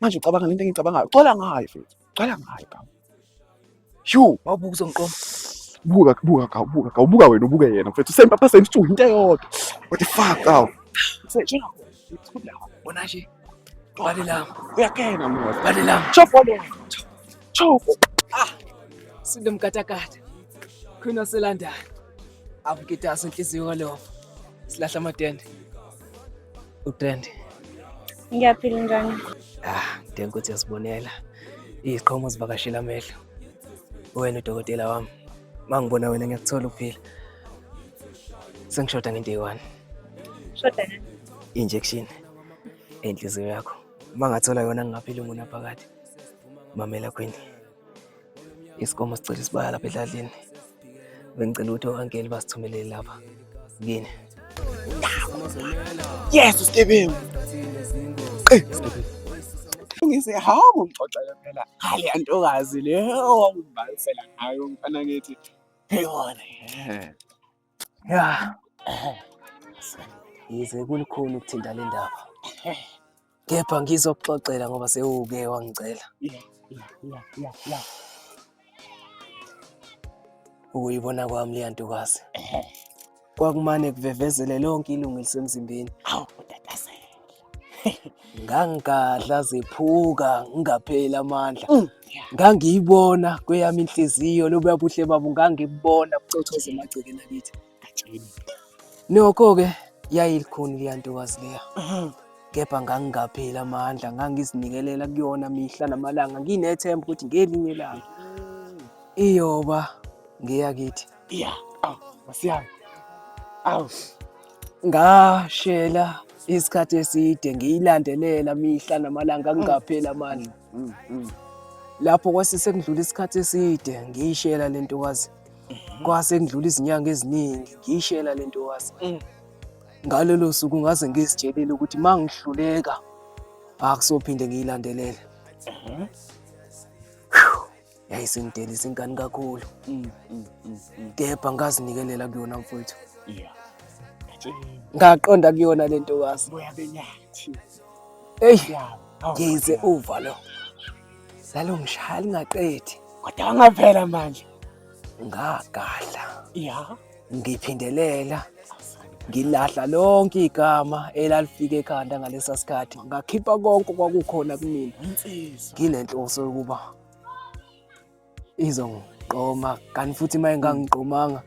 manje ucabanga lento engicabangayo cwala ngayo futhi cwala ngayo kawu shu wawubuka uzongiqoma buka buka kawu buka kawu buka wena ubuke yena mfethu same papa same story into eyodwa what the fuck kawu sejona uthula bona nje bale lami uyakena mwa bale lami chop wale chop ah sinde mkatakata khona selandana avukita asenhliziyo kalovo silahla amatende utrend ngiyaphila njani ah ngidinga ukuthi yasibonela iziqhomo zivakashela amehlo wena udokotela wami mangibona wena ngiyakuthola uphila sengishoda ngento eyi-one shoda injection enhliziyo yakho uma ngathola yona ngingaphila umuntu aphakathi mamela khwini isikomo sicela isibaya lapha edladlini bengicela ukuthi owankeli basithumelele lapha kini yes usigebengu ngise hawu ngixoxela phela hale antokazi le owawumbalisela ngayo mfana ngithi heyona Ya. Yize kulikhulu ukuthinta le ndaba. Kepha ngizokuxoxela ngoba sewuke wangicela. Yeah, yeah, yeah, yeah. Ukuyibona kwami leya ntokazi. Kwakumane kuvevezele lonke ilungu elisemzimbeni. Awu, ngangigadla zephuka ngingapheli amandla mm. ngangiyibona kweyami inhliziyo lobuya buhle babo ngangibona bucothoza emagcekeni akithi nokho-ke yayilikhuni leya ntokazi leya mm-hmm. kepha ngangingapheli amandla ngangizinikelela kuyona mihla namalanga nginethemba ukuthi ngelinye ilanga iyoba ngeyakithi Yeah. Aw, masiyami. Aw. Ngashela isikhathi eside ngiyilandelela mihla namalanga ngingapheli amandla. Mm, mm. Lapho kwase sekudlula isikhathi eside ngiyishela le ntokazi. Mhm. Kwase kudlula izinyanga eziningi ngiyishela le ntokazi. Mm. Ngalelo suku ngaze ngizitshelile ukuthi uma ngihluleka akusophinde ngiyilandelele. Mhm. yayisingidelisa ingane kakhulu mm, mm, mm, mm. kepha ngazinikelela kuyona mfowethu yeah. ngaqonda kuyona le ntokazi eyi ngize uva lo lalungishaya lingaqedi kodwa wangavela manje ngagadla ya ngiphindelela ngilahla lonke igama elalifika ekhanda ngalesa sikhathi ngakhipha konke kwakukhona kumina nginenhloso yokuba izongiqoma kanti futhi uma engangiqomanga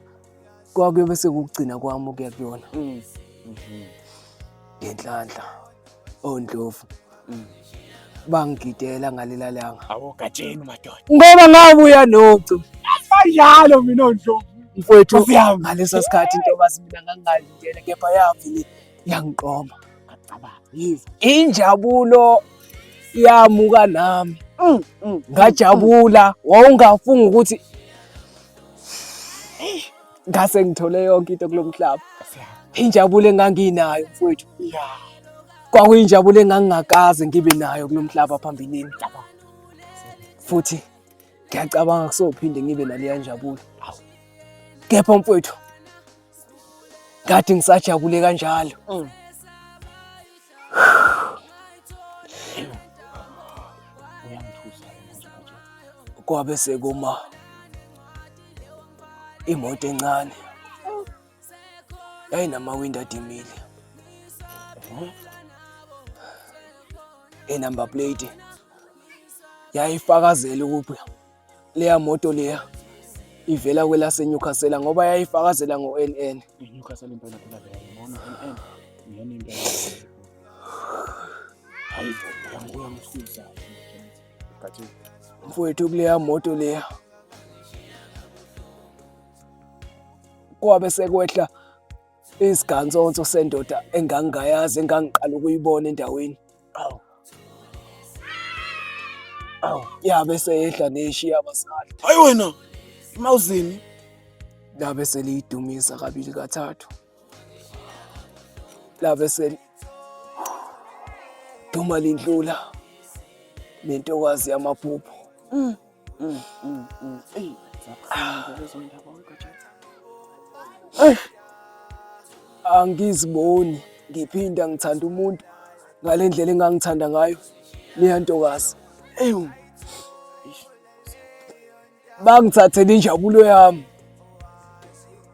kwakuyobe sekugcina kwami ukuya kuyona mm. mhm. ngenhlanhla ondlovu mm. bangigidela ngalela langa awogatsheni madoda ngoba ngabuya nocu kanjalo mina ondlovu mfowethu ngaleso sikhathi intobazi mina ngangingalindele kepha yavele yangiqoma ngacabanga yizwa injabulo yamuka nami mm, mm, mm, ngajabula wawungafunga ukuthi ngase ngithole yonke into kulo mhlaba injabulo enganginayo mfowethu kwakuyinjabulo engangingakaze ngibe nayo kulo mhlaba phambilini futhi ngiyacabanga kusophinde ngibe naleya njabulo kepha mfowethu kade ngisajabule kanjalo mm. kwabe sekuma imoto encane yayinamawindi adimile enumber plate yayifakazela ukuthi leya moto leya ivela kwelase Newcastle ngoba yayifakazela ngo NN Newcastle impela phela leya ngibona NN ngiyona impela hayi uyangibuya msusa gathi mfowethu kuleya moto leya kwabe sekwehla isigantsonso sendoda engangingayazi engangiqala ukuyibona endaweni awu awu ya bese yehla neshiya abasali hayi wena imawuzini la bese liyidumisa kabili kathathu la bese duma lindlula nentokazi yamaphupho mm. Mm, mm, mm. Eyi, zabuhlungu lezo ndaba weGajata. Angiziboni ngiphinda ngithanda umuntu ngale ndlela engangithanda ngayo leya ntokazi. Ewu. Bangithathele injabulo yami.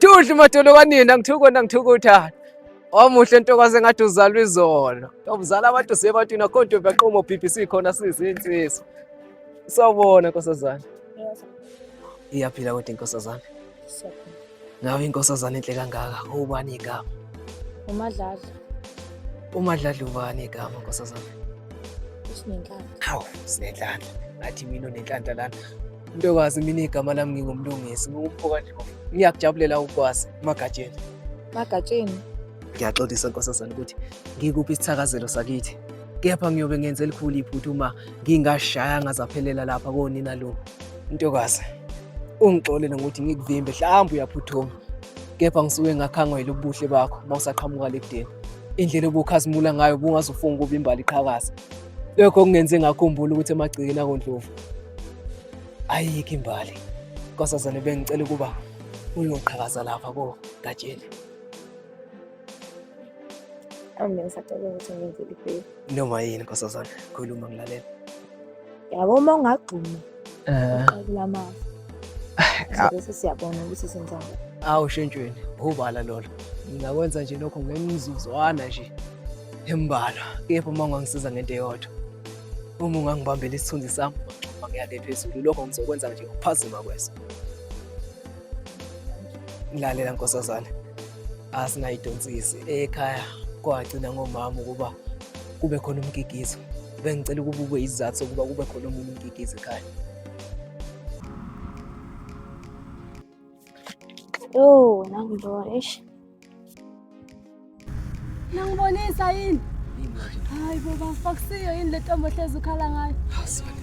Dudu madolo kanina ngithukona ngithukutha. Omuhle ntokazi engathi uzalwa izolo. Ubuzala abantu sebantwini akho nto baqoma BBC khona sizinsizwa. Sawubona nkosazana. Iyaphila kodwa inkosazana. Ngabe inkosazana enhle kangaka ubani igama? Umadlala. Umadlala ubani igama nkosazana? Sinenhlanhla. Hawu, sinenhlanhla. Ngathi mina unenhlanhla lana. Ntokazi mina igama lami ngingumlungisi ngikumphoka nje ngiyakujabulela ukwazi magatsheni magatsheni ngiyaxolisa nkosazana ukuthi ngikuphi isithakazelo sakithi kepha ngiyobe ngenze elikhulu iphutha uma ngingashaya ngazaphelela lapha konina lo ntokazi ungixolele ngokuthi ngikuvimbe mhlawumbe uyaphuthuma kepha ngisuke ngakhangwa yilobuhle bakho uma usaqhamuka lekudeni indlela obukhazimula ngayo bungazufunga ukuba imbali iqhakaza lokho kungenze ngakhumbula ukuthi emagcikeni akondlovu ayikho imbali nkosazane bengicela ukuba uyoqhakaza lapha kogatsheni Angibona ngisacabanga ukuthi ngenzele ibheki. Noma yini nkosazana, khuluma ngilalela. Yabo uma ungagxuma. eh kula mama ah. bese siyabona ukuthi senza awu shentshweni ubala lolo ngingakwenza nje lokho ngemizuzwana nje embalwa kepha uma ungangisiza ngento eyodwa uma ungangibambela isithunzi sami uma ngiyale phezulu lokho ngizokwenza nje ukuphazima kweso lalela nkosazana asinayidonsisi ekhaya kwagcina ngomama ukuba kube khona umgigizo bengicela ukuba ube isizathu sokuba kube khona omunye umgigizo ekhaya Oh, nangibona eish. Nangibonisa yini? Hayi baba, fakusiyo yini le ntombi ohlezi ukhala ngayo? Asibani.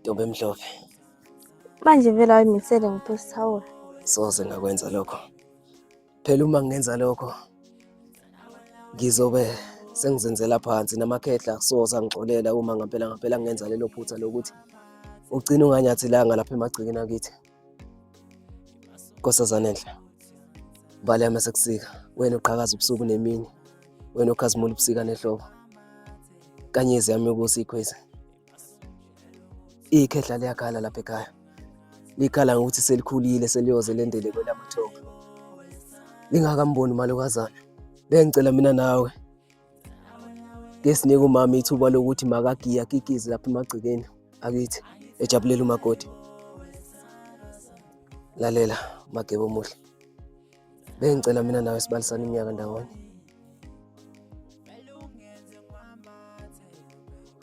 ntombi emhlophe manje vele ayimisele ngiphostawola soze ngakwenza lokho phela uma ngenza lokho ngizobe sengizenzela phansi namakhehla soze angixolela uma ngampela ngampela ngenza lelo phutha lokuthi ugcina unganyathilanga lapha emagcikini akithi Nkosazana enhle. Bale yami sekusika. Wena uqhakaza ubusuku nemini. Wena ukhazimula ubusika nehlobo. Kanyezi yami ukuthi ikhwezi. Ikhehla liyakhala lapha ekhaya. Likhala ngokuthi selikhulile seliyoze lendele kwelamathoka. Lingakamboni malokazana. Bengicela mina nawe kesinike umama ithuba lokuthi makagiye akikize lapha emagcekeni akithi ejabulela umakoti lalela magebo omuhle bengicela mina nawe sibalisana iminyaka ndawonye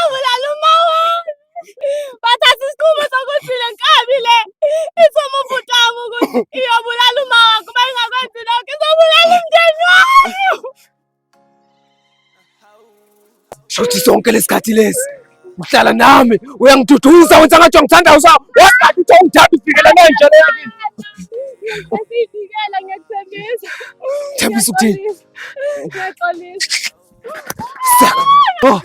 Awulala uma wami bathatha isikhulu sokuthi le nkabi le ithuma ubhuti wami ukuthi iyobulala uma wakho uma ingakwenzi lokho izobulala umndeni wami Shothi sonke lesikhathi lesi uhlala nami uyangiduduyisa wenza ngathi ngithanda usa wathi uthi ungithanda ufikela manje le yakini Ngiyakuvikela ngiyakuthembisa Thembisa ukuthini Ngiyaxolisa Oh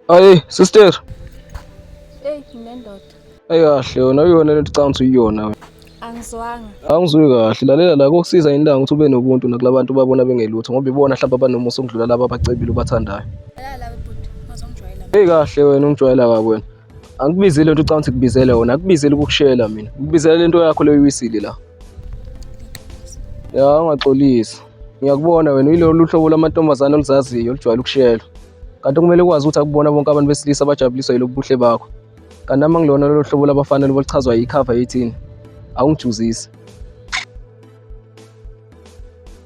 Ayi sister. Hey nginendoda. Ayi kahle yona uyona lento canga ukuthi uyona wena. Angizwanga. Angizwi kahle lalela la kokusiza indanga ukuthi ube nobuntu nakulabantu babona bengelutho ngoba ibona mhlawumbe abanomusa ukudlula laba abacebile ubathandayo. Hey kahle wena ungijwayela kabi wena. angikubizile nto ucanga ukuthi kubizele wona akubizile ukukushela mina ukubizela lento yakho leyo uyiwisile la ya ungaxolisi ngiyakubona wena uyilolu hlobo lamantombazane oluzaziyo olujwayele ukushela kanti kumele ukwazi ukuthi akubona bonke abantu besilisa abajabuliswa yilobu buhle bakho kanti nami angilona lolu hlobo labafanele boluchazwa yikhava yethini awungijuzisi